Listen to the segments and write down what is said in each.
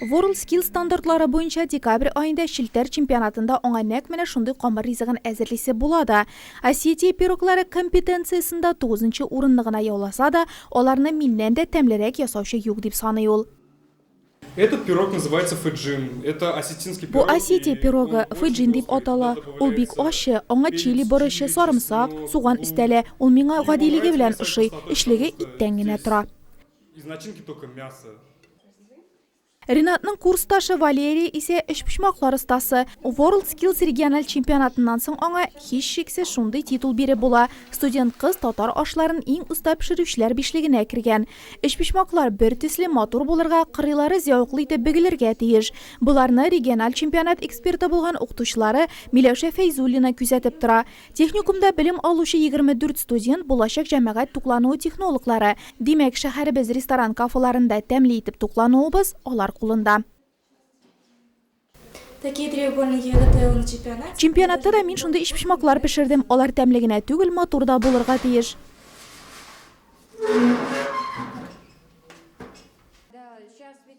WorldSkills стандартлары буенча декабрь аенда челтәр чемпионатында аңа нәкъ менә шундый камыр ризыгын әзерлисе була да. Осетия пироглары компетенциясендә тугызынчы урынны гына яуласа да, аларны миннән дә тәмлерәк ясаучы юк, дип саный ул. Этот пирог называется фыджин. Это осетинский пирог. Бу Осетия пирогы, фыджин дип атала. Ул бик ачы, аңа чили борычы, сарымсак, суган өстәлә. Ул миңа гадилеге белән ошый, эчлеге иттән генә тора. Из начинки только мясо. Ринатның курсташы Валерия исә өчпочмаклар остасы. WorldSkills региональ чемпионатыннан соң аңа, һичшиксез, шундый титул биреп була, студент кыз татар ашларын иң оста пешерүчеләр бишлегенә кергән. Өчпочмаклар бертөсле, матур булырга, кырыйлары зәвыклы итеп бөгелергә тиеш. Боларны региональ чемпионат эксперты булган укытучылары Миләүшә Фәйзуллина күзәтеп тора. Техникумда белем алучы 24 студент, булачак җәмәгать туклануы технологлары. Димәк, шәһәребез ресторан-кафеларында тәмле итеп туклануыбыз, алар кулында. Чемпионатта да мин шундый эчпочмаклар пешердем, алар тәмле генә түгел, матур да булырга тиеш.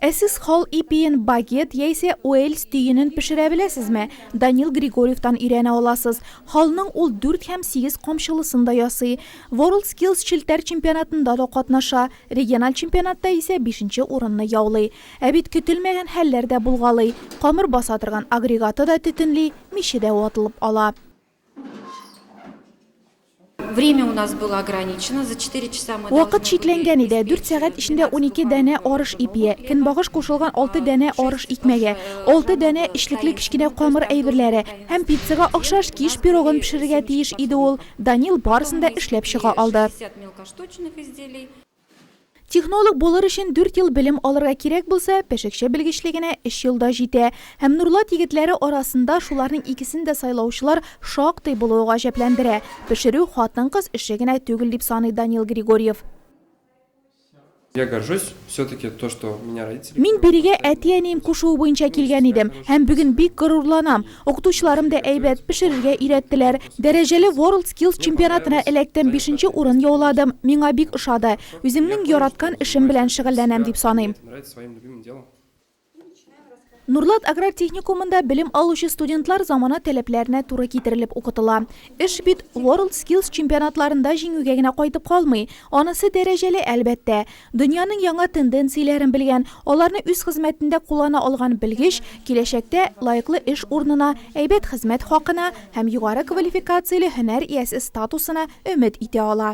Ә сез хал ипиен багет яисә уэльс төенен пешерә беләсезме? Данил Григорьевтан өйрәнә аласыз. Халның ул дүрт һәм сигез камчылысын да ясый. WorldSkills челтәр чемпионатында да катнаша, региональ чемпионатта исә бишенче урынны яулый. Ә бит көтелмәгән хәлләр дә булгалый, камыр баса торган агрегаты да төтенли, миче дә ватылып ала. Время у нас было ограничено, за 4 часа мы Вакыт чикләнгән иде. 4 сәгать эчендә 12 дәнә арыш ипие, көнбагыш кушылган 6 дәнә арыш икмәге, 6 дәнә эчлекле кечкенә камыр әйберләре һәм пиццага охшаш киш пирогын пешерергә тиеш иде ул. Данил барысын да эшләп чыга алды. Технолог булыр өчен дүрт ел белем алырга кирәк булса, пешекче белгечлегенә өч ел да җитә. Һәм Нурлат егетләре арасында шуларның икесен дә сайлаучылар шактый булуы гаҗәпләндерә. Пешерү хатын-кыз эше генә түгел, дип саный Данил Григорьев. Мин бирегә әти-әнием кушуы буенча килгән идем һәм бүген бик горурланам. Укытучыларым да әйбәт, пешерергә өйрәттеләр. Дәрәҗәле World Skills чемпионатына эләктем, бишенче урын яуладым. Миңа бик ошады. Үземнең яраткан эшем белән шөгыльләнәм дип саныйм. Нурлат аграр техникумында белем алучы студентлар замана таләпләренә туры китерелеп укытыла. Эш бит World Skills чемпионатларында җиңүгә генә кайтып калмый. Анысы дәрәҗәле, әлбәттә. Дөньяның яңа тенденцияләрен белгән, аларны үз хезмәтендә куллана алган белгеч киләчәктә лаеклы эш урынына, әйбәт хезмәт хакына һәм югары квалификацияле һөнәр иясе статусына өмет итә ала.